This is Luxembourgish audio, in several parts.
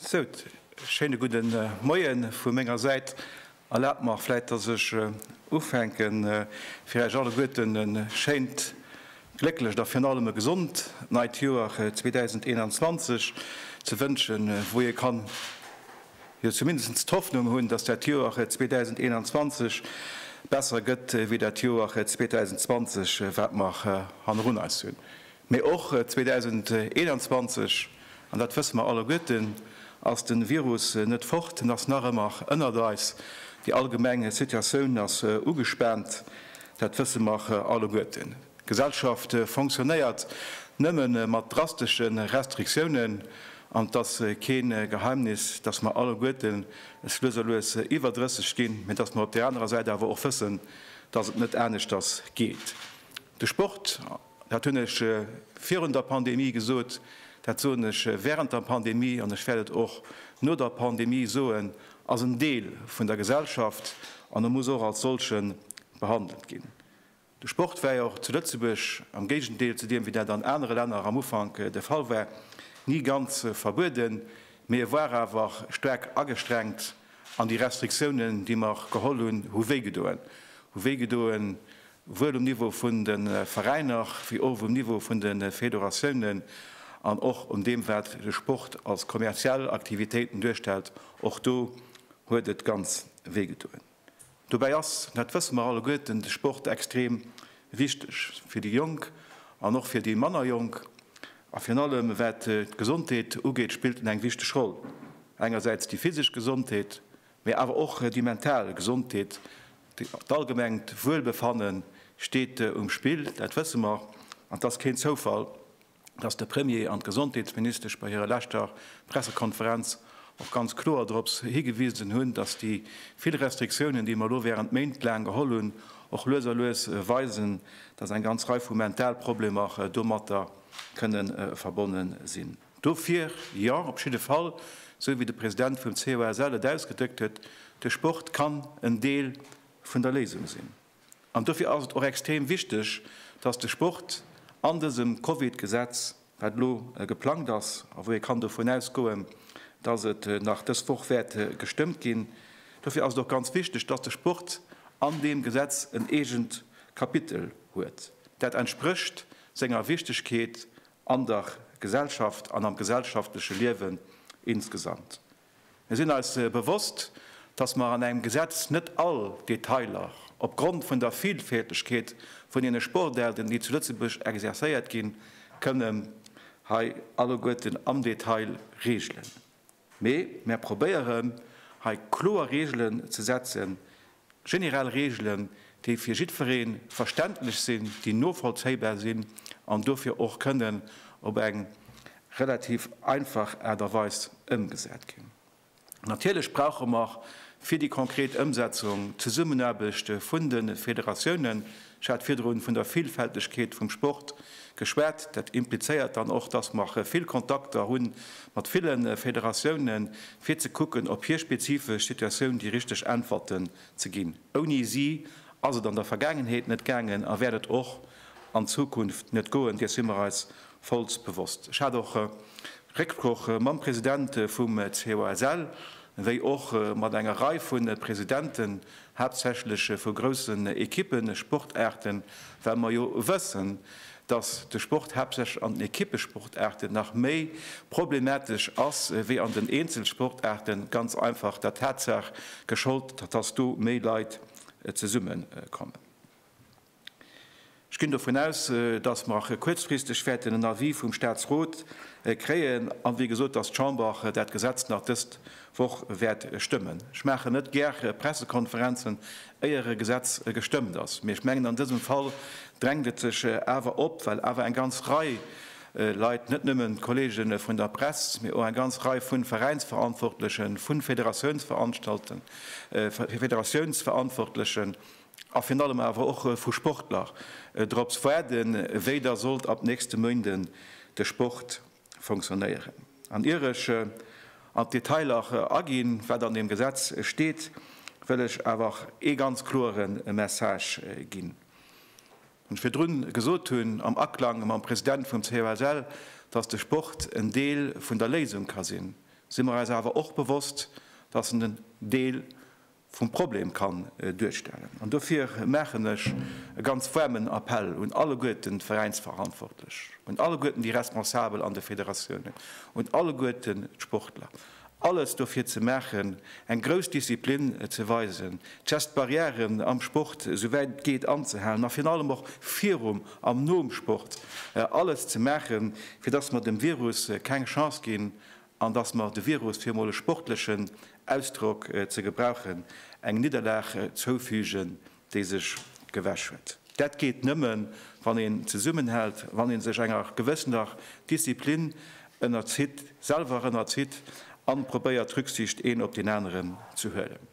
Sou, schéine gudde Moie vu menger Säit. Erlaabt mer vläit, dass ech ufänke fir Iech alleguerten e schéint, glécklecht a virun allem e gesond neit Joer 2021 ze wënschen, wou ee kann jo zumindest d'Hoffnung hunn, dass dat Joer 2021 besser gëtt wéi dat Joer 2020, wat mer hannerun eis hunn. Mee och 2021, an dat wësse mer alleguerten, ass de Virus net fort. En ass nach ëmmer ënnert eis. Déi allgemeng Situatioun ass ugespaant, dat wësse mer alleguerten. D'Gesellschaft fonctionnéiert nëmme mat drastesche Restriktiounen. An et ass kee Geheimnis, dass mer alleguerten es lues a lues iwwer 30 ginn, mee dass mer op där anerer Säit awer och wëssen, dass et net aneschters geet. De Sport. Dat hunn ech virun der Pandemie gesot, dat soen ech während der Pandemie an ech wäert et och no der Pandemie soen, ass en Deel vun der Gesellschaft an e muss och als solche behandelt ginn. De Sport war jo och zu Lëtzebuerg, am Géigendeel zu deem wéi dat an anere Länner am Ufank de Fall war, ni ganz verbueden, mee e war awer staark agestrengt an déi Restriktiounen, déi mer geholl hunn, hu wéigedoen, hu wéigedoen wuel um Niveau vun de Veräiner wéi och um Niveau vun de Federatiounen an och un deem, wat de Sport als kommerziell Aktivitéiten duerstellt, och do huet et ganz wéi gedoen. Dobäi ass, dat wësse mer alleguerten, de Sport extrem wichteg fir déi Jonk an och fir déi manner Jonk. A virun allem, wat d'Gesondheet ugeet, spillt en eng wichteg Roll, engersäits déi physesch Gesondheet, Mee awer och déi mental Gesondheet, d'allgemengt Wuelbefanne steet um Spill, dat wësse mer. An et ass keen Zoufall, datt de Premier an d'Gesondheetsministesch bei hirer leschter Pressekonferenz och ganz kloer dorops higewisen hunn, datt déi vill Restriktiounen, déi mer elo während Méint laang geholl hunn, och lues a lues weisen, datt eng ganz Rei vu mental Problemer domatter kënne verbonne sinn. Dofir jo, op jidde Fall, esou wéi de President vum COSL et ausgedréckt huet, de Sport kann en Deel vun der Léisung sinn. An dofir ass et och extrem wichteg, dass de Sport an dësem Covid-Gesetz, wat elo geplangt ass a wou ee kann dovun ausgoen, dass et nach dës Woch wäert gestëmmt ginn, dofir ass et och ganz wichteg, dass de Sport an deem Gesetz en eegent Kapitel huet, dat entsprécht senger Wichtigkeet an der Gesellschaft an am gesellschaftleche Liewen insgesamt. Mir sinn eis bewosst, dass mer an engem Gesetz net all Detailer opgrond vun der Vielfältegkeet vun deene Sportaarten, déi zu Lëtzebuerg exerzéiert ginn, kënnen hei alleguerten am Detail regelen. Mee mär probéieren hei kloer Reegelen ze setzen, generell Reegelen, déi fir jiddweree verständlech sinn, déi novollzéibar sinn an dofir och kënnen op eng relativ einfach Aart a Weis ëmgesat ginn. Natierlech brauche mer fir déi konkret Ëmsetzung d'Zesummenaarbecht vun de Federatiounen, Ech hat virdrun vun der Villfältegkeet vum Sport geschwat. Dat implizéiert dann och, dass mer vill Kontakter hu mat ville Federatiounen, fir ze kucken, op hir spezifesch Situatioun déi richteg Äntwerten ze ginn. Ouni si ass et an der Vergaangenheet net gaangen a wäert et och an Zukunft net goen, deer si mer eis vollst bewosst. Ech hat och Récksproch mam President vum COSL, wéi och mat enger Rei vu Presidenten, haaptsächlech vu groussen Equippen, Sportaarten, well mer jo wëssen, dass de Sport haaptsächlech an den Equippesportaarten nach méi problematesch ass wéi an den Eenzelsportaarten, ganz einfach der Tatsaach gescholdt, dass do méi Leit zesummekommen. Ech ginn dovun aus, dass mer kuerzfristeg wäerten en Avis vum Statsrot kréien an, wéi gesot, dass d'Chamber dat Gesetz nach dës Woch wäert stëmmen. Ech maachen net gär Pressekonferenzen, éier e Gesetz gestëmmt ass, mee ech mengen an dësem Fall drängt et sech awer op, well awer eng ganz Rei Leit, net nëmmen d'Kollege vun der Press, mee och eng ganz Rei vu Veräinsverantwortlechen, vu Federatiounsverantwortlechen, a virun allem awer och vu Sportler drops waarden, wéi da sollt ab nächste Méinde de Sport funktionéieren. An ier ech an d'Detailer aginn, wat an deem Gesetz steet, wëll ech awer ee ganz kloere Message ginn, deen ech virdrun gesot hunn, am Aklang mam President vum COSL, dass de Sport en Deel vun der Léisung ka sinn, si mer eis awer och bewosst, dass en en Deel vum Problem kann duerstellen. An dofir maachen ech e ganz waarmen Appell un alleguerten d'Veräinsverantwortlech, un alleguerten déi Responsabel an de Federatiounen, un alleguerten d'Sportler, alles dofir ze maachen, eng grouss Disziplin ze weisen, d'Gestbarrièren am Sport esou wäit et geet anzehalen, a virun allem och virum an nom Sport alles ze maachen, fir dass mer dem Virus keng Chance ginn, an dass mer de Virus, fir emol e sportlechen Ausdrock ze gebrauchen, eng Nidderlag zoufügen, déi sech gewäsch huet. Dat geet nëmme wann een zesummenhält, wann ee sech enger gewëssener Disziplin ënnerzitt, selwer ënnerzitt, a probéiert Rücksicht een op deen aneren ze huelen.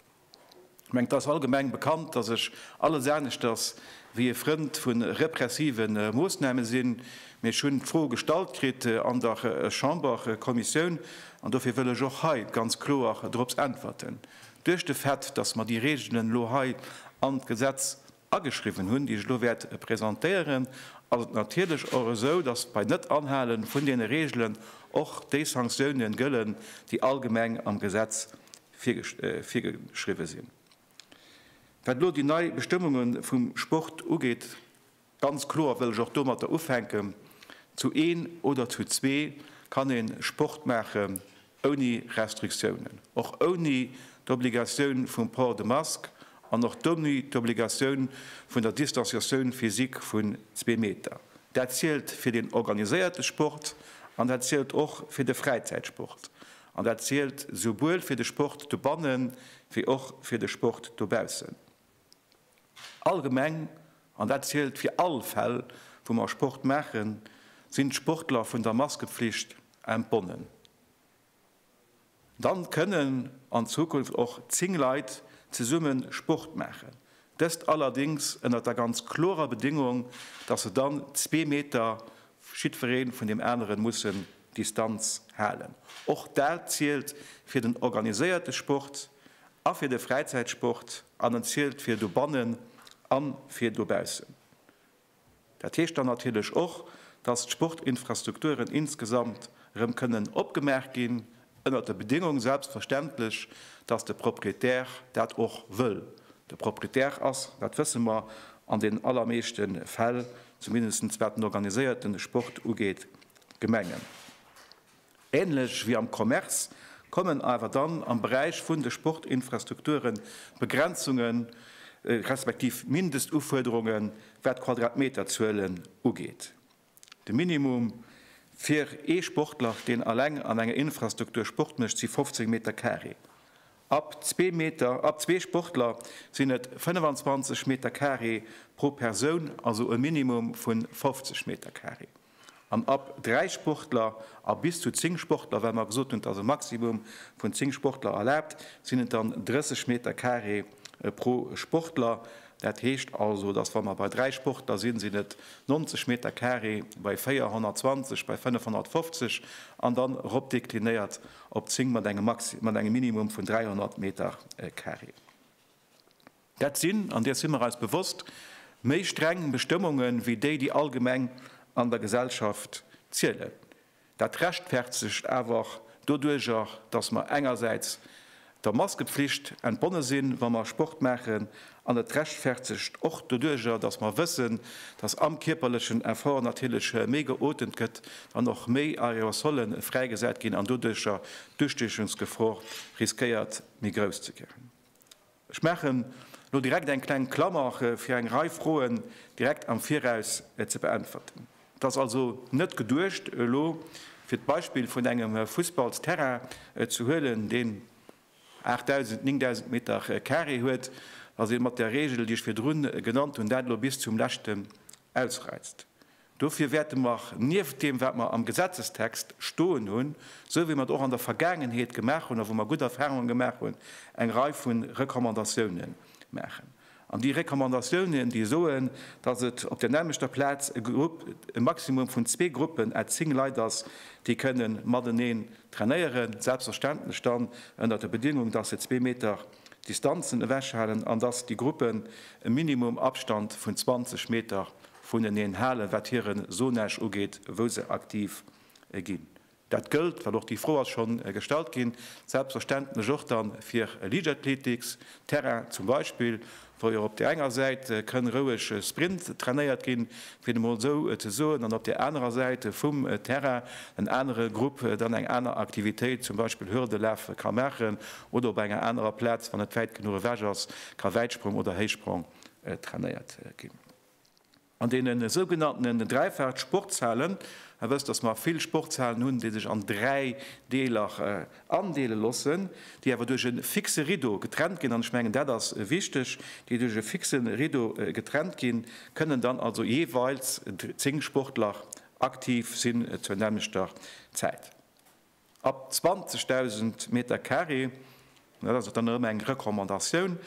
Mengt dass allgemeng bekannt dass ech alles aneschters wéi e Frënd vun repressive Moossname sinn, mee ech hunn d'Fro gestallt kritt an der Chamberkommissioun an dofir wëll ech och hei ganz kloer dorops äntwerten. Duerch de Fait dass mer déi Regelen elo hei an d'Gesetz ageschriwwen hunn, déi ech elo wäert presentéieren, ass et natierlech och esou, dass bei Net-Anhale vun deene Reegelen och déi Sanktiounen gëllen, déi allgemeng am Gesetz virgeschriwwen sinn. Wat elo déi nei Bestëmmunge vum Sport ugeet, ganz kloer wëll ech och domatter ufänken, Zu een oder zu zwee kann ee Sport maachen, Ouni Restriktiounen, och ouni d'Obligatioun vum Port de Masque an och d'ouni d'Obligatioun vun der Distanciatioun physique vun zwee Meter. Dat zielt fir den organiséierte Sport an dat zielt och fir de Fräizäitsport. An dat zielt souwuel fir de Sport dobanne wéi och fir de Sport dobaussen. Allgemeng, an dat zielt fir all Fäll, wou mer Sport maachen, sinn d'Sportler vun der Maskepflicht entbonnen. Dann kënnen an Zukunft och zéng Leit zesumme Sport maachen, dëst allerdéngs ënnert der ganz klorer Bedéngung, dass se dann zwee Meter jiddweree vun deem aneren mussen Distanz halen. Och dat zielt fir den organiséierte Sport a fir de Fräizäitsport an en zielt fir dobannen a fir dobaussen. Dat heescht dann natierlech och, dass d'Sportinfrastrukturen insgesamt erëm kënnen opgemaach ginn, ënnert der Bedéngung selbstverständlech, dass de Proprietär dat och wëll. De Proprietär ass, dat wësse mer, an den allermeeschte Fäll, zumindest wat den organiséierte Sport ugeet, d'Gemengen. Ähnlech wéi am Commerce kommen awer dann am Beräich vun de Sportinfrastrukture Begrenzunge respektiv Mindestufuerderunge wat d'Quadratmeterzuelen ugeet. De Minimum fir ee Sportler, deen alleng an enger Infrastruktur Sport mécht, si 15 Meter carré. Ab zwee Meter, ab zwee Sportler sinn et 25 Meter carré pro Persoun, also e Minimum vu 50 Meter carré. an ab dräi Sportler a bis zu zéng Sportler, well mer gesot hunn, et ass e Maximum vun zéng Sportler erlaabt, sinn et dann 30 Meter carré pro Sportler. Dat heescht also, datt, wa mer bei dräi Sportler sinn, sinn et 90 Meter carré bei 420, bei 550 an dann eropdeklinéiert op zéng mat engem Maxi-, mat engem Minimum vun 300 Meter carré. Dat sinn, an deer si mer eis bewosst, méi streng Bestëmmunge wéi déi, déi allgemeng an der Gesellschaft zielen. Dat rechtfertegt awer och doduerjer, datt mer engersäits der Maskepflicht entbonne sinn, wa mer Sport maachen, an et rechtfertegt och doduerjer, datt mer wëssen, datt am kierperlechen Effort natierlech méi geotemt gëtt an och méi Aerosolle fräigesat ginn an doduerjer d'Ustiechungsgefor riskéiert méi grouss ze ginn. Ech maachen elo direkt eng kleng Klammer, fir eng Rei Froen direkt am Viraus ze beäntwerten. Et ass also net geduecht, elo fir d'Beispill vun engem Fussballsterrain ze huelen, deen 8.000, 9.000 Metercarré huet, datt ee mat där Regel, déi ech virdru genannt hunn, dat elo bis zum leschte ausreizt. Dofir wäerte mer nieft deem, wat mer am Gesetzestext stoen hunn, esou wéi mer et och an der Vergaangenheet gemaach hunn a wou mer gutt Erfahrungen gemaach hunn, eng Rei vu Recommandatiounen maachen. An déi Recommandatiounen, déi soen, dass et op der nämmlechter Plaz e Grupp, e Maximum vun zwee Gruppen à zéng Leit ass, déi kënnen mateneen trainéieren, selbstverständlech dann ënner der Bedingung, dass se zwee Meter, Distanzen ewechhalen an dass déi Gruppen e Minimum Abstand vun 20 Meter vuneneen halen, wat hire Zonage ugeet, wou se aktiv ginn. Dat gëllt, well och déi Fro ass scho gestallt ginn, selbstverständlech och da fir Liichtathletics-Terrainen zum Beispill. wou jo op där enger Säit kënn roueg Sprint trainéiert ginn, fir et emol esou ze soen, an op där anerer Säit vum Terrain en anere Grupp dann eng aner Aktivitéit, zum Beispill Hürdelaf, ka maachen oder op enger anerer Plaz, wann et wäit genuch ewech ass, ka Wäitsprong oder Héichsprong trainéiert ginn. An deenen sougenanntenen Dräifalt Sportshalen, a wësst, dass mer vill Sportshalen hunn, déi sech an dräi Deeler andeele loossen, déi awer duerch e fixe Rideau getrennt ginn, an ech mengen dat ass wichteg, déi duerch e fixe Rideau getrennt ginn, kënnen dann also jeeweils zéng Sportler aktiv sinn zur nämmlechter Zäit. Ab 20.000 Meter Carré, dat ass och dann erëm eng Recommandatioun,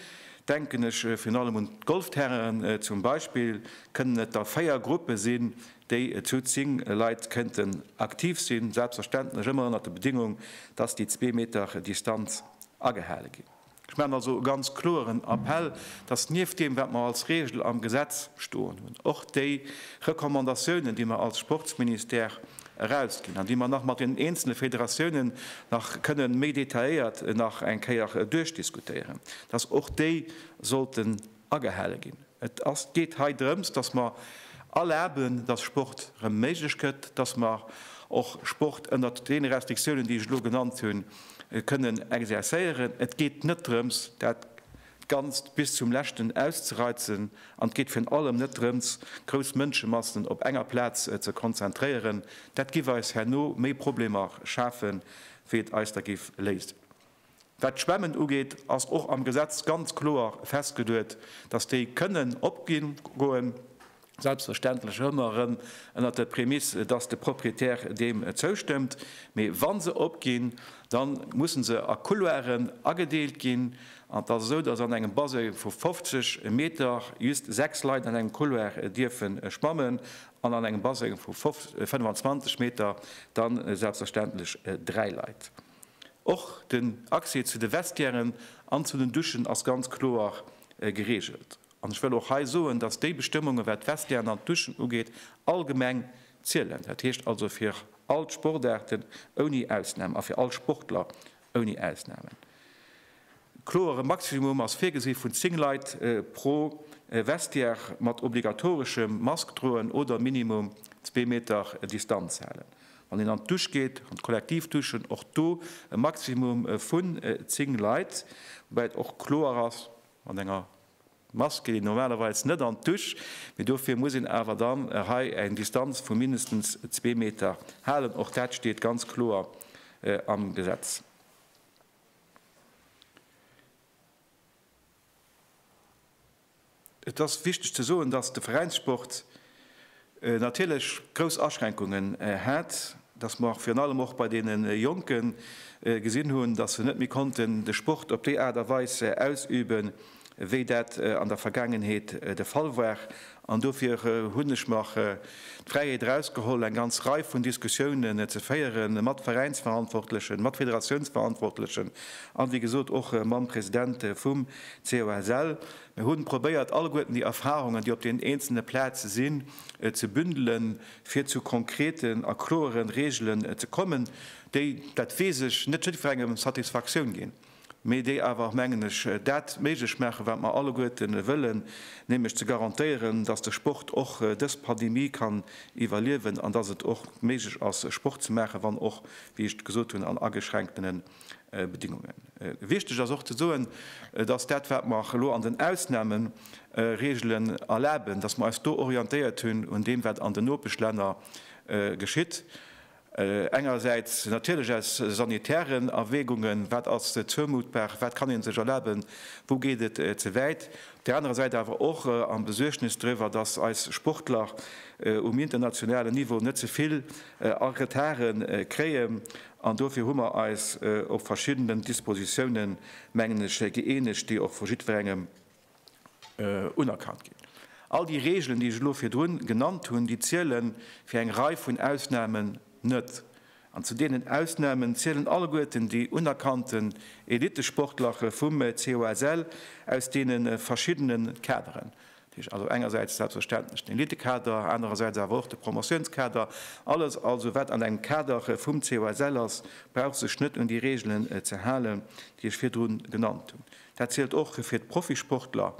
denken ech virun allem un d'Golfterrainen zum Beispill, kënnen et da véier Gruppe sinn, déi zu zéng Leit kënnten aktiv sinn, selbstverständlech ëmmer ënnert der Bedingung, dass déi zwee Meter Distanz agehale ginn. Ech maachen also e ganz kloeren Appell, dass nieft deem, wat mer als Regel am Gesetz stoen hunn, och déi Recommandatiounen, déi mer als Sportsministère erausginn an déi mer nach mat den eenzele Federatiounen nach kënne méi detailléiert nach eng Kéier duerchdiskutéieren, dass och déi sollten agehale ginn. Et geet hei drëms, dass mer erlaben, dass Sport erëm méiglech gëtt, dass mer och Sport ënnert deene Restriktiounen, déi ech elo genannt hunn, kënnen exerzéieren. Et geet net drëms, dat Ganzt bis zum Leschten auszereizen, an et geet virun allem net drëms, grouss Mënschemassen op enger Plaz ze konzentréieren. Dat giff eis herno méi Problemer schafen, wéi et eis der giff léisen. Wat d'Schwämmen ugeet, ass och am Gesetz ganz kloer festgeduet, dass déi kënnen opgoen, selbstverständlech ëmmer erëm ënnert der Prämiss, dass de Proprietär deem zoustëmmt. Mee wa se opginn, da musse se a Couloiren agedeelt ginn. An et ass esou, dass an engem Baseng vu 50 Meter just sechs Leit an engem Couloir dierfe schwammen an an engem Baseng vu 25 Meter da selbstverständlech dräi Leit. Och den Accès zu de Vestiairen an zu den Duschen ass ganz kloer geregelt. An ech wëll och hei soen, dass déi Bestëmmungen, wat d'Vestiairen an d'Duschen ugeet, allgemeng zielen. Dat heescht also fir all d'Sportaarten ouni Ausnahm a fir all Sportler ouni Ausnahmen. Kloer, e Maximum ass virgesi vun 10 Leit pro Vestiaire mat obligatoreschem Mask droen oder minimum zwee Meter Distanz halen, wann een an d'Dusch geet, an d'Kollektivduschen. Och do e Maximum vun 10 Leit, woubäi et och kloer ass, mat enger Mask geet een normalerweis net an d'Dusch, mee dofir muss een awer dann hei eng Distanz vu mindestens zwee Meter halen. Och dat steet ganz kloer am Gesetz. Et ass wichteg ze soen, dass de Veräinssport natierlech grouss Aschränkungen hat, dass mer virun allem och bei deene Jonke gesinn hunn, dass se net méi konnten de Sport op déi Aart a Weis ausüben, wéi dat an der Vergaangenheet de Fall war, an dofir hunn ech mer d'Fräiheet erausgeholl, eng ganz Rei vun Diskussiounen ze féieren mat Veräinsverantwortlechen, mat Federatiounsverantwortlechen an, wéi gesot, och mam President vum COSL. Mir hu probéiert, alleguerten déi Erfahrungen, déi op den eenzelne Plaze sinn, ze bündelen, fir zu konkreten a kloere Regelen ze kommen, déi, dat weess ech, net jiddwerengem Satisfaktioun ginn. mee déi awer, mengen ech, dat méiglech maachen, wat mer alleguerte wëllen, nämlech ze garantéieren, dass de Sport och dës Pandemie kann iwwerliewen an dass et och méiglech ass, Sport ze maachen, wann och, wéi ech gesot hunn, an ageschränktene Bedingungen. Wichtig ass och ze soen, dass dat, wat mer elo an den Ausnahmeregelen erlaben, dass mer eis do orientéiert hunn un deem, wat an den Nopeschlänner geschitt. Engersäits natierlech aus sanitären Erwägungen, wat ass zoumuttbar, wat kann ee sech erlaben, wou geet et ze wäit, op där anerer Säit awer och am Besuergnes driwwer, datt eis Sportler um internationalen Niveau net ze vill a Retarde kréien. An dofir hu mer eis op verschiddenen Dispositiounen, mengen ech, gëeenegt, déi och vu jiddwerengem unerkannt ginn. All déi Reegelen, déi ech elo virdrun genannt hunn, déi ziele fir eng Rei vun Ausnamen net. An zu deenen Ausnamen zielen alleguerten déi unerkannten Elittesportlerche vum COSL aus deene verschiddene Kaderen. Dat heescht also engersäits selbstverständlech den Elittekader, anerersäits awer och de Promotiounskader. Alles also, wat an engem Kader vum COSL ass, brauch sech net un déi Reegelen ze halen, déi ech virdrun genannt hunn. Dat zielt och fir d'Profisportler,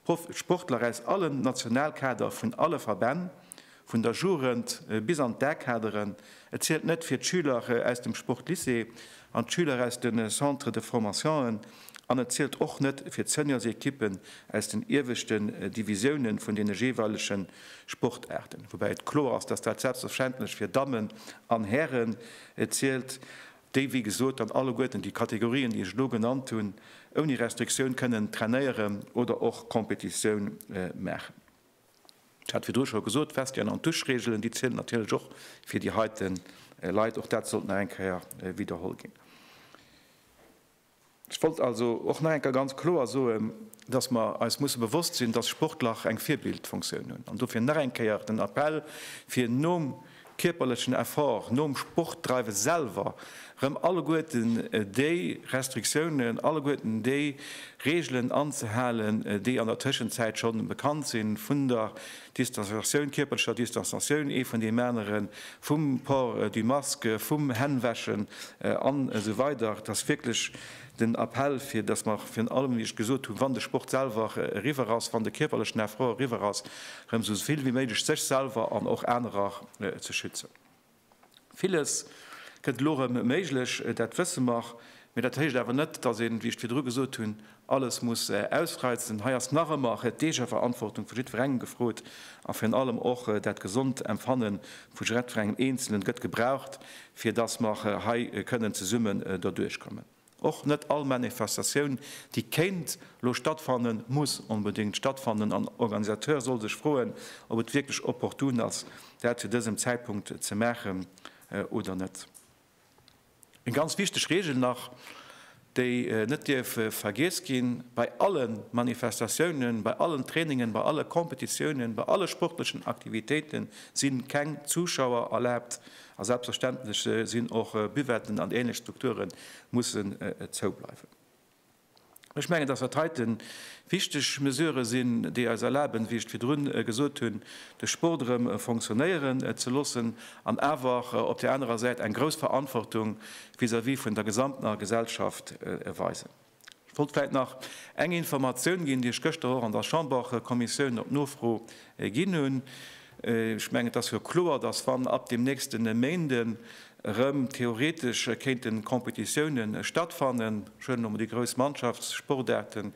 d'Sportler aus allen Nationalkader vun alle Verbänn, vun der Jugend bis an d'A-Kaderen. Et zielt net fir d'Schüler aus dem Sportlycée an d'Schüler aus de Centres de formation'en an et zielt och net fir d'Seniorsequippen aus den ieweschten Divisiounen vun deene jeeweilege Sportaarten. Woubäi et kloer ass, dass dat selbstverständlech fir Dammen an Hären zielt. déi wéi gesot dann alleguerten déi Kategorien, déi ech elo genannt hunn, ouni Restriktioun kënnen trainéieren oder och Competitioun maachen. Ech hat virdru scho gesot, d'Vestiären an d'Duschregelen, déi zielen natierlech och fir déi heite Leit. Och dat sollt nach eng Kéier widderholl ginn. Ech wollt also och nach eng Kéier ganz kloer soen, dass mer eis musse bewosst sinn, dass Sportler eng Virbildfunktioun hunn. An dofir nach eng Kéier den Appell, fir nom kierperlechen Effort, nom Sportdreiwe selwer erëm alleguerten déi Restriktiounen, alleguerten déi Reegelen anzehalen, déi an der Tëschenzäit scho bekannt si vun der Distanzatioun, kierperlecher Distanzatioun, ee vun deem aneren, vum Port du masque, vum Hännwäschen an esou weider. Et ass wierklech den Appell, fir datt mer virun allem, wéi ech gesot hunn, wann de Sport selwer eriwwer ass, wann de kierperlechen Effort eriwwer ass, erëm esou vill wéi méiglech sech selwer an och anerer ze schützen. Villes gëtt elo erëm méiglech, dat wësse mer. Mee dat heescht awer net, dass een, wéi ech virdru gesot hunn, alles muss ausreizen. Hei ass nach ëmmer d'Eegeverantwortung vu jiddwerengem gefrot a virun allem och dat gesond Empfanne vu jiddwerengem Eenzelen gëtt gebraucht, fir dass mer hei kënnen zesumme doduerchkommen. Och net all Manifestatioun, déi kéint lo stattfannen, muss onbedéngt stattfannen an Organisateur soll sech froen, ob et wierklech opportun ass, dat zu dësem Zäitpunkt ze maachen oder net. Eng ganz wichteg Reegel nach, déi net dierf vergiess ginn, Bei alle Manifestatiounen, bei allen Trainingen, bei alle Kompetitiounen, bei alle sportlechen Aktivitéiten si keng Zuschauer erlaabt, A selbstverständlech sinn och Buvetten an ähnlech Strukture mussen zou bleiwen. Ech mengen, dass dat heiten wichteg Mesurë sinn, déi eis erlaben, wéi ech et virdrun gesot hunn, de Sport erëm fonctionnéieren ze loossen an awer op där anerer Säit eng grouss Verantwortung vis-à-vis vun der gesamter Gesellschaft weisen. Ech wollt vläit nach eng Informatioun ginn, déi ech gëschter och an der Chamberkommissioun op Nofro ginn hunn. Ech mengen, et ass jo kloer, dass, wann ab dem nächste Méinde erëm theoretesch kéinte Competitioune stattfannen, ech huelen elo mol déi grouss Mannschaftssportaarten,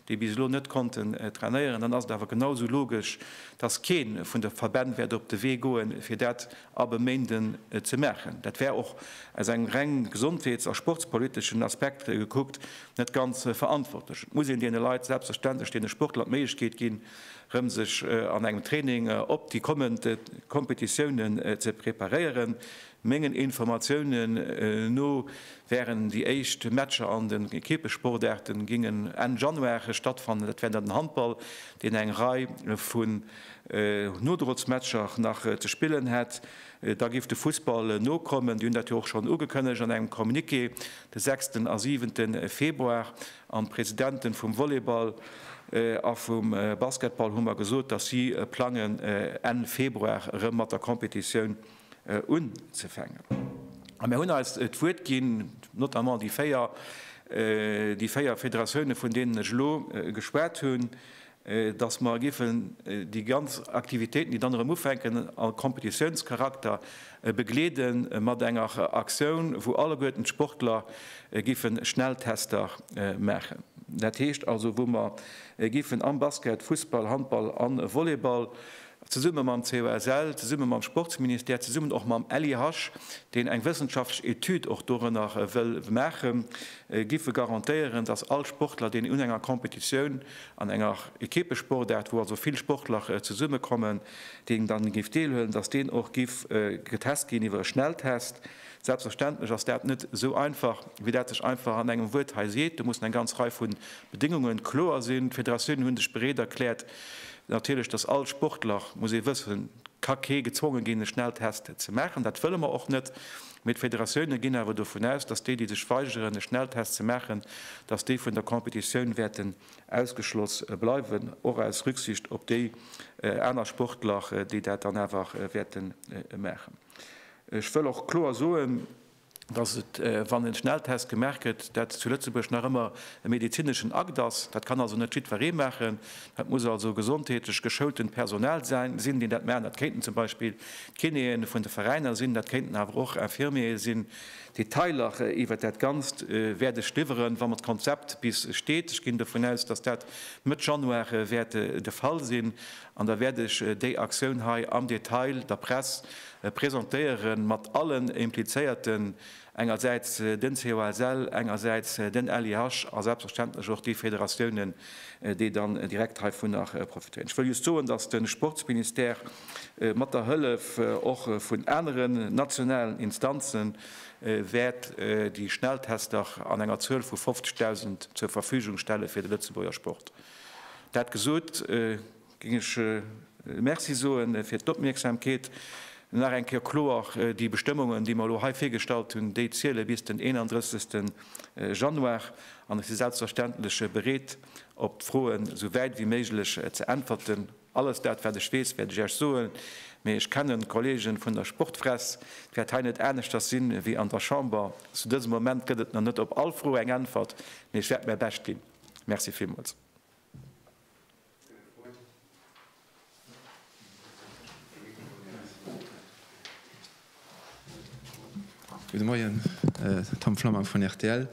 déi bis elo net konnten trainéieren, dann ass et awer genau esou logesch, dass kee vun de Verbänn wäert op de Wee goen, fir dat ab e Méinden ze maachen. Dat wär och aus engem reng gesondheets a sportspoliteschen Aspekt gekuckt net ganz verantwortlech. Et muss een deene Leit, selbstverständlech deene Sportler, d'Méiglechkeet ginn, erëm sech an engem Training op déi kommend Kompetitiounen ze preparéieren. Mengen Informatiounen no wären déi éischt Matcher an den Ekippessportaarten, gingen Enn Januar stattfannen. Dat wär dann den Handball, deen eng Rei vu Nodrozmatcher nach ze spillen hätt, da géif de Fussball nokommen. Déi hunn dat jo och schonn ugekënnegt an engem Communiqué de sechsten a siwente Februar. An d'Presidente vum Volleyball a vum Basketball hu mer gesot, datt si plangen, Enn Februar erëm mat der Competitioun unzefänken. A mir hunn eis d'Wuert ginn, notamment déi véier, déi véier Federatioune, vun deenen ech elo geschwat hunn, datt mer giffen déi ganz Aktivitéiten, déi dann erëm ufänken, a Kompetitiounscharakter begleede mat enger Aktioun, wou alleguerten d'Sportler giffen Schnelltester maachen. Dat heescht also, wou mer giffen am Basket, Fussball, Handball a Volleyball zesumme mam COSL, zesumme mam Sportsministère, zesummen och mam LIH, deen eng wëssenschaftlech Etüd och dorënner wëll maachen, gife garantéieren, datt all Sportler, deen un enger Competitioun, an enger Equippesportaart, wou also vill Sportler zesummekommen, deen dann géif deelhuelen, datt deen och giff getest ginn iwwer e Schnelltest. Selbstverständlech ass dat net esou einfach, wéi dat sech einfach an engem Wuert hei seet. Do mussen eng ganz Rei vu Bedéngunge kloer sinn. D'Federatiounen hu sech bereet erkläert, Natierlech, dass all Sportler, muss ee wëssen, ka kee gezwonge ginn, e Schnelltest ze maachen. Dat wëlle mer och net. Mee d'Federatioune ginn awer dovun aus, dass déi, déi sech weigeren, e Schnelltest ze maachen, dass déi vun der Competitioun wäerten ausgeschloss bleiwen, och aus Rücksicht op déi aner Sportler, déi dat dann awer wäerte maachen. Ech wëll och kloer soen, dass et, wann en Schnelltest gemaach gëtt, dat zu Lëtzebuerg nach ëmmer e medezineschen Akt ass. Dat kann also net jiddweree maachen. Dat muss also gesondheetlech geschoultent Personal sinn, deen dat maachen. Dat kéinten zum Beispill d'Kinéen vun de Veräiner sinn, dat kéinten awer och Infirmiere sinn. Detailer iwwert dat Ganzt wäert ech liwweren, wa mer d'Konzept bis steet. Ech ginn dovun aus, dass dat Mëtt Januar wäert de Fall sinn. An da wäert ech déi Aktioun hei am Detail der Press presentéieren, mat allen Implizéierten, engersäits den COSL, engersäits den LIH a selbstverständlech och déi Federatiounen, déi dann direkt heivunner profitéieren. Ech wëll just soen, dass de Sportsministère mat der Hëllef och vun aneren nationalen Instanze wäert déi Schnelltester an enger Zuel vu 50.000 zur Verfügung stelle fir de Lëtzebuerger Sport. Dat gesot, géing ech Merci soe fir d'Opmierksamkeet. Nach eng Kéier kloer, Déi Bestëmmungen, déi mer elo hei virgestallt hunn, déi ziele bis den 31. Januar. An ech si selbstverständlech bereet, op d'Froen esou wäit wéi méiglech ze äntwerten. Alles dat, wat ech weess, wäert ech Iech soen. Mee ech kennen d'Kollege vun der Sportfress. Et wäert hei net aneschters sinn, wéi an der Chamber. Zu dësem Moment gëtt et nach net op all Fro eng Äntwert, mee ech wäert mäi Bescht ginn. Merci villmools. Gudde Moien, Tom Flammang vun rtl.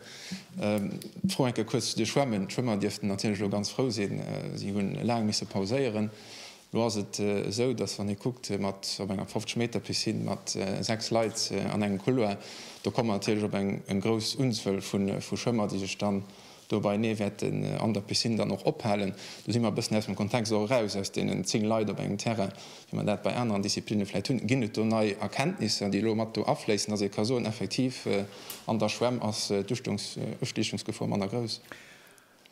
D'Fro eng Kéier kuerz zu de Schwämmen. D'Schwëmmer dierften natierlech elo ganz frou sinn. Si hu laang misse pauséieren. Elo ass et esou, datt wann ee kuckt mat op enger 50 Meter Piscine mat 6 Leit an engem Couloir, do komme mer natierlech op eng grouss Unzuel vu Schwëmmer, déi sech dann, Dobei nee, wäert en an der Piscine dann och ophalen. Do si mer e bëssen aus dem Kontext och eraus, aus deenen 10 Leit op engem Terrain, wéi mer dat bei aneren Disziplinne vläicht hunn. Ginn et do nei Erkenntnisser, déi elo mat do afléissen, dass ee ka soen, effektiv an der Schwämm ass d'Ustiechungsgefor manner grouss?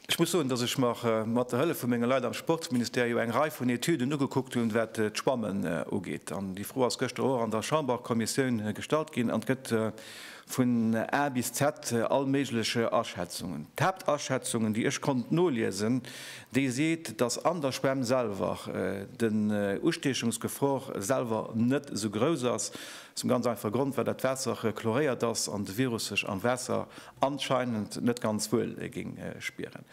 Ech muss soen, dass ech mer mat der Hëllef vu menge Leit am Sportsministère jo eng Rei vun Etüden ugekuckt hunn, wat d'Schwammen ugeet. An déi Fro ass gëschter och an der Chamberkommissioun gestallt ginn an gëtt Vun A bis Z all méiglech Aschätzungen. D'Haaptaschätzungen, déi ech konnt noliesen, déi seet, dass an der Schwämm selwer den Ustiechungsgefor selwer net esou grouss ass, aus dem ganz einfache Grond, well dat Waasser chloréiert ass an de Virus sech am Waasser anscheinend net ganz wuel géing spieren.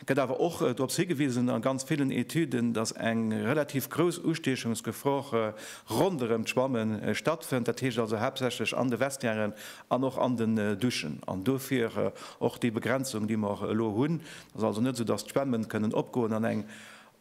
gëtt awer och dorops higewisen a ganz villen Etüden, dass eng relativ grouss Ustiechungsgefor ronderëm d'Schwamme stattfënnt, dat heescht also haaptsächlech an de Vestiairen an och an den Duschen. An dofir och déi Begrenzung, déi mer elo hunn. Et ass also net esou, dass d'Schwämme kënnen opgoen an eng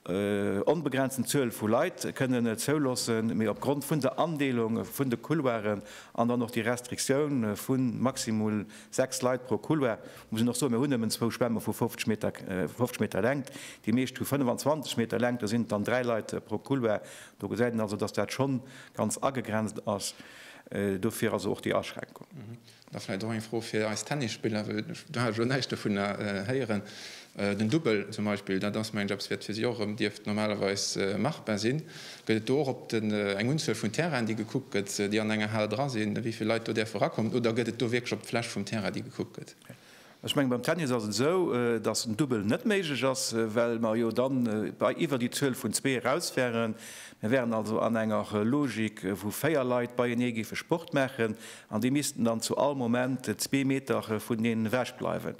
onbegrenzten Zuel vu Leit kënnen zouloossen, mee opgrond vun der Andeelung vun de Couloiren an dann och déi Restriktioun vu maximul 6 Leit pro Couloir, muss een och soen, mir hunn nëmmen zwou Schwämme vu 50 Meter, 50 Meter Längt, déi meescht hu 25 Meter Längt, do sinn et dann dräi Leit pro Couloir. Do gesäit een also, dass dat schonn ganz agegrenzt ass, dofir also och déi Aschränkung. Da vläit och eng Fro fir eis Tennisspiller, well do hat ech elo näischt dovunner héieren. Den Dubbel zum Beispill, dat ass, mengen ech, eppes, wat fir si och erëm dierft normalerweis machbar sinn. Gëtt et do och op den eng Unzuel vun Terrainen, déi gekuckt gëtt, déi an enger Hal dra sinn, wéi vill Leit do däerfe rakommen, oder gëtt et do wierklech op d'Fläch vum Terrain, déi gekuckt gëtt? Ech mengen, beim Tennis ass et esou, dass en Dubbel net méiglech ass, well mer jo da bei iwwer déi Zuel vun zwee eraus wären. Mir wären also an enger Logik, wou véier Leit beienee géife Sport maachen an déi missten dann zu all Moment zwee Meter vuneneen ewech bleiwen.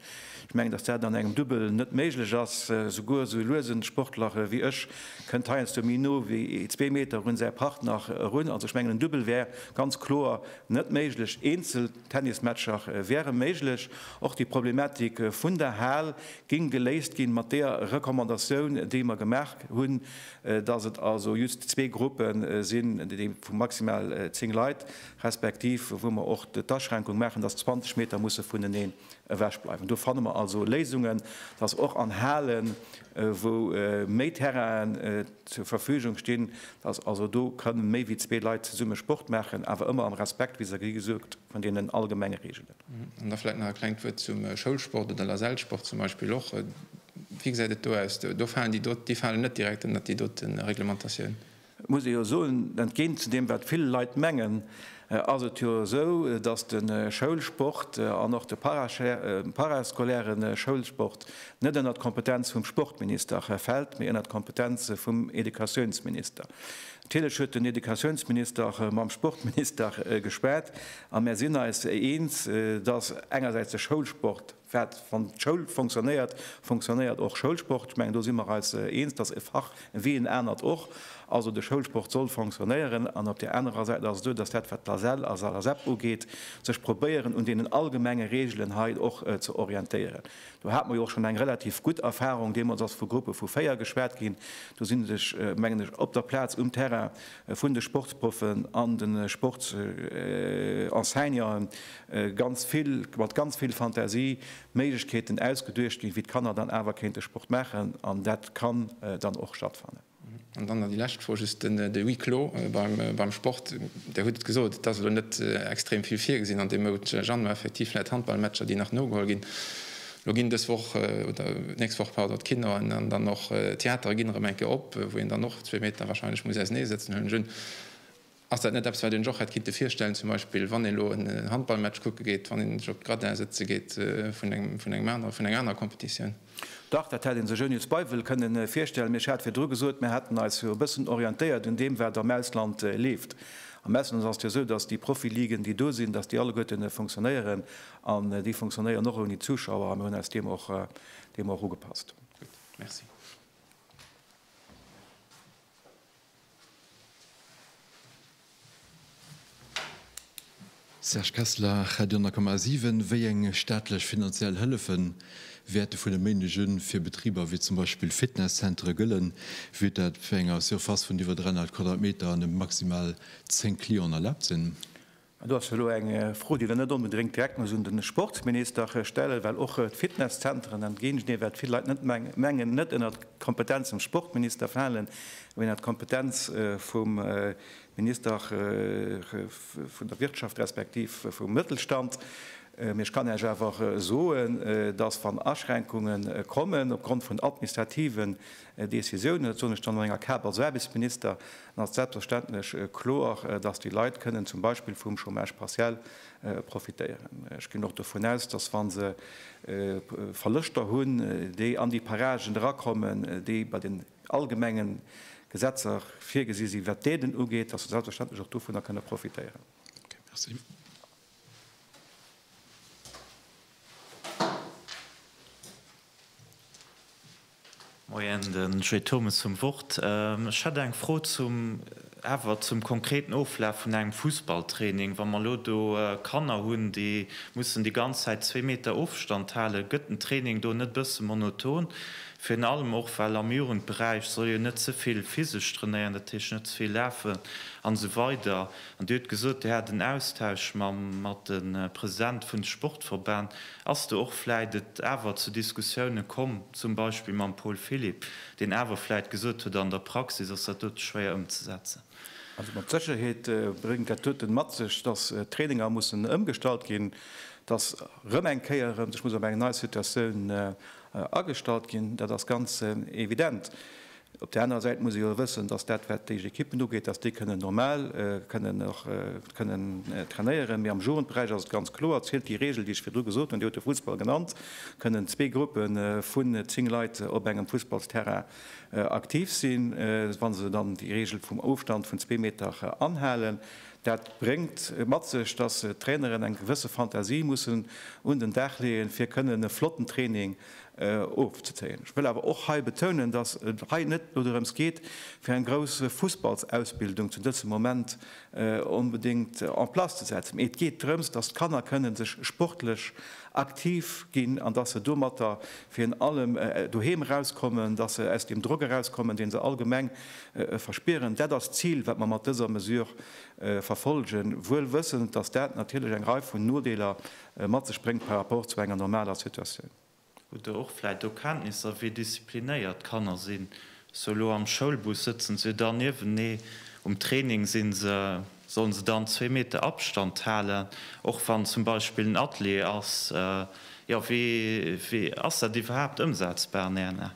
Ech mengen, dass dat an engem Dubbel net méiglech ass. Souguer esou luesen Sportler wéi ech kënnt heiansdo méi no wéi zwee Meter un säi Partner erun. Also ech mengen, en Dubbel wär ganz kloer net méiglech eenzel. Tennismatcher wäre méiglech. Och déi Problematik vun der Hal géing geléist ginn, mat deeër Recommandatioun, déi mer gemaach hunn, dass et also just zwee Gruppe sinn, déi vu maximal zéng Leit, respektiv wou mer och d'Aschränkung maachen, dass 20 Meter musse vuneneen ewech bleiwen. Do fanne mer also Léisungen, dass och an Halen, wou méi Terrainen, zur Verfügung stinn, dass also do kënnen méi wéi zwee Leit zesumme Sport maachen, awer ëmmer am Respekt, wéi se gesoot gëtt, vun deenen allgemenge Reegelen. An da vläit nach e klengt Wuert zum Schoulsport oder Lasellsport zum Beispill och. Wéi gesäit et do aus? Do falen déi dot, déi falen net direkt ënnert déi dote Reglementatioun? Et muss ee jo soen, entgéint zu deem wat vill Leit mengen, ass et jo esou, dass de Schoulsport an och de parascolaire Schoulsport net ënnert d'Kompetenz vum Sportminister fält, mee ënnert d'Kompetenz vum Educatiounsminister. Natierlech huet den Educatiounsminister mam Sportminister geschwat a mär sinn eis eens, dass engersäits de Schoulsport, Wat, wann d'Schoul fonctionnéiert, fonctionnéiert och Schoulsport. Ech mengen, do si mer eis eens, dass e Fach wéi en anert och, also de Schoulsport soll fonctionnéieren. An op där anerer Säit ass et esou, dass dat, wat d'ASEL a Salasep ugeet, sech probéieren, un deenen allgemenge Regeln hei och ze orientéieren. Do hate mer jo och schonn eng relativ gutt Erfahrung. Deemools ass vu Gruppe vu véier geschwat ginn. Do sinn sech, mengen ech, op der Plaz, um Terrain, vun de Sportsproffen an de Sportsenseignanten ganz vill, mat ganz vill Fantasie, Méiglechkeeten ausgeduecht ginn, wéi d'Kanner dann awer kéinte Sport maachen, an dat kann dann och stattfannen. An dann nach déi lescht Fro, just den Huis clos beim Sport. Dir hutt et gesot, et ass elo net extrem vill virgesinn an deem Mount Januar, effektiv vläicht Handballmatcher, déi nach nogeholl ginn. Lo ginn dës Woch, oder d'nächst Woch, pardon, d'Kino an dann och d'Theatere ginn erëm eng Kéier op, wou een dann och zwee Meter wahrscheinlech muss ausenee sëtzen, huelen ech un. Ass dat net eppes, wat een sech och hätt kinnte virstellen, zum Beispill wann ee lo en Handballmatch kucke geet, wann een sech op d'Gradin sëtze geet vun engem anere, vun enger anerer Competitioun? Dach, dat hätt ee sech ouni Zweiwel kënne virstellen, mee ech hat virdru gesot, mir hätten eis jo e bëssen orientéiert un deem, wat am Ausland leeft. Am Ausland ass et jo esou, datt déi Profi-Ligen, déi do sinn, datt déi alleguerten funktionéieren. An déi funktionéieren och ouni Zuschauer a mir hunn eis deem och deem och ugepasst. Gutt. Merci. Serge Kessler, Radio 10,7, Wéi eng staatlech finanziell Hëllefe wäerte vun e Méindeg un fir Betriber wéi zum Beispill Fitnesszentere gëllen? Wier dat bei enger Surface vun iwwer 300 Quadratmeter an e maximal 10 Clienten erlaabt sinn? Do ass elo eng Fro, déi Der net onbedréngt direkt muss un de Sportsminister stellen, well och d'Fitnesszenteren, entgéint deem wat vill Leit net mengen, net ënnert d'Kompetenz vum Sportminister falen, mee ënnert d'Kompetenz vum Minister vun der Wirtschaft respektiv vum Mëttelstand. Mee ech kann Iech awer soen, dass, wann Aschränkungen kommen opgrond vun administrativen Décisiounen, dat soen ech dann an enger Kap als Aarbechtsminister, Dann ass selbstverständlech kloer, dass déi Leit kënnen zum Beispill vum Chômage partiel profitéieren. Ech ginn och dovun aus, dass wa se Verloschter hunn, déi an déi Paragen erakommen, déi bei den allgemenge Gesetzer virgesi sinn, wat d'Aiden ugeet, dass se selbstverständlech och dovunner kënne profitéieren. Okay, merci. Moien, den Jay Thomas zum Wort. Ech hätt eng Fro zum, awer zum konkreten Oflaf vun engem Fussballtraining. Wa mer elo do Kanner hunn, déi mussen déi ganz Zäit zwee Meter Ofstand halen, gëtt den Training do net e bësse monoton? Virun allem och, well am Jugendberäich soll jo net ze vill physesch trainéieren, dat heescht net ze vill lafen an esou weider. An Dir hutt gesot, Dir hat en Austausch mat de Presidente vun de Sportverbänn. Ass do och vläit et awer zu Diskussiounen komm, zum Beispill mam Paul Philipp, deen awer vläit gesot huet, an der Praxis ass dat dote schwéier ëmzesetzen? Also mat Sécherheet bréngt dat doten mat sech, dass d'Traininger mussen ëmgestallt ginn, dass erëm eng Kéier sech muss op eng nei Situatioun agestallt ginn. Dat ass ganz evident. Op där anerer Säit muss ee jo wëssen, datt dat, wat déi Ekippen ugeet, datt déi kënnen normal kënnen och kënnen trainéieren. Mee am Jugendberäich ass et ganz kloer, zielt déi Reegel, déi ech virdru gesot hunn, Dir hutt de Fussball genannt, kënnen zwee Gruppe vun zéng Leit op engem Fussballsterrain aktiv sinn, wa se dann déi Reegel vum Ofstand vun zwee Meter anhalen. Dat bréngt mat sech, datt d'Traineren eng gewësse Fantasie mussen un den Dag leeën, fir kënnen e flotten Training ofzezéien. Ech wëll awer och hei betounen, dass et hei net dodrëms geet, fir eng grouss Fussballsausbildung zu dësem Moment onbedéngt en place ze setzen, mee et geet drëms, dass d'Kanner kënnen sech sportlech aktiv ginn an dass se domatter virun allem doheem erauskommen, dass se aus deem Drock erauskommen, dee se allgemeng verspieren. Dat ass d'Zil, wat mer mat dëser Mesure verfolgen, wuel wëssend, dass dat natierlech eng Rei vun Nodeeler mat sech bréngt par rapport zu enger normaler Situatioun. Hutt Der och vläit do Kenntnisser, wéi disziplinéiert d'Kanner sinn? Sou elo am Schoulbus sëtzen se jo dann niewenee, um Training si se, sollen se dann zwee Meter Abstand halen, och wann zum Beispill en Atelier ass? Jo, wéi ass dat iwwerhaapt ëmsetzbar an Ären Aen?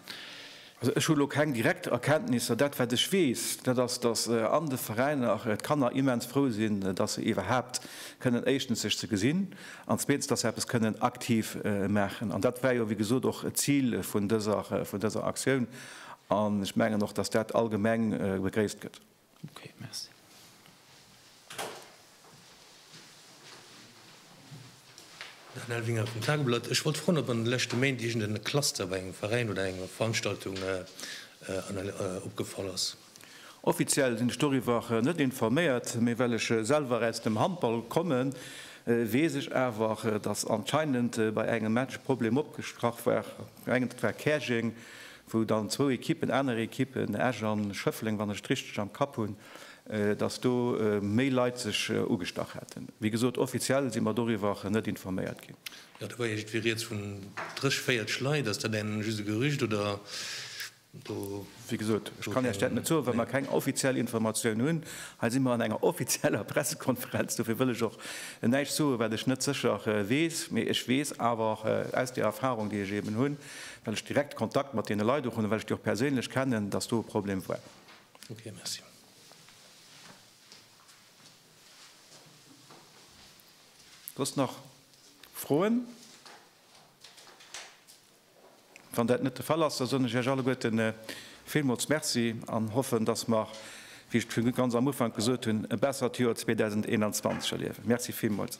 Also ech hu lo keng direkt Erkenntnisser. Dat wat ech weess, dat ass, datt an de Veräiner d'Kanner immens frou sinn, datt se iwwerhaapt kënnen éischtens sech ze gesinn an zweetens, datt se eppes kënnen aktiv maachen. An dat war jo wéi gesot och d'Zil vun dëser Aktioun an ech mengen och, datt dat allgemeng begréisst gëtt. Daniel Winer vum Tageblatt, Ech wollt froen, ob an de leschte Méint iergend en Cluster bei engem Veräin oder enger Veranstaltung opgefall ass? Offiziell sinn ech doriwwer net informéiert, mee well ech selwer aus dem Handball kommen, weess ech awer, datt anscheinend bei engem Match e Problem opgestrach war. Mengen et war Käerjeng, wou dann zwou Ekippen, aner Ekippen, Esch an Schëffleng, wann ech et richteg am Kapp hunn, dass do méi Leit sech ugestach hätten. Wéi gesot, offiziell si mer doriwwer net informéiert ginn. Jo, do war iergendwéi rieds vun drëch, véierteg Leit. Ass dat eng just e Gerücht oder do? Wéi gesot, ech kann Iech dat net soen, well mer keng offiziell Informatioun hunn. Hei si mer an enger offizieller Pressekonferenz, dofir wëll ech och näischt soen, wat ech net sécher weess. Mee ech weess awer aus där Erfahrung, déi ech eeben hunn, well ech direkt Kontakt mat deene Leit och hunn a well ech déi och perséinlech kennen, dass do e Problem war. Okay, merci. Soss nach Froen? Wann dat net de Fall ass, da soen ech Iech alleguerte villmools Merci an hoffen, dass mer, wéi ech et virun ganz am Ufank gesot hunn, e bessert Joer 2021 erliewen. Merci villmools.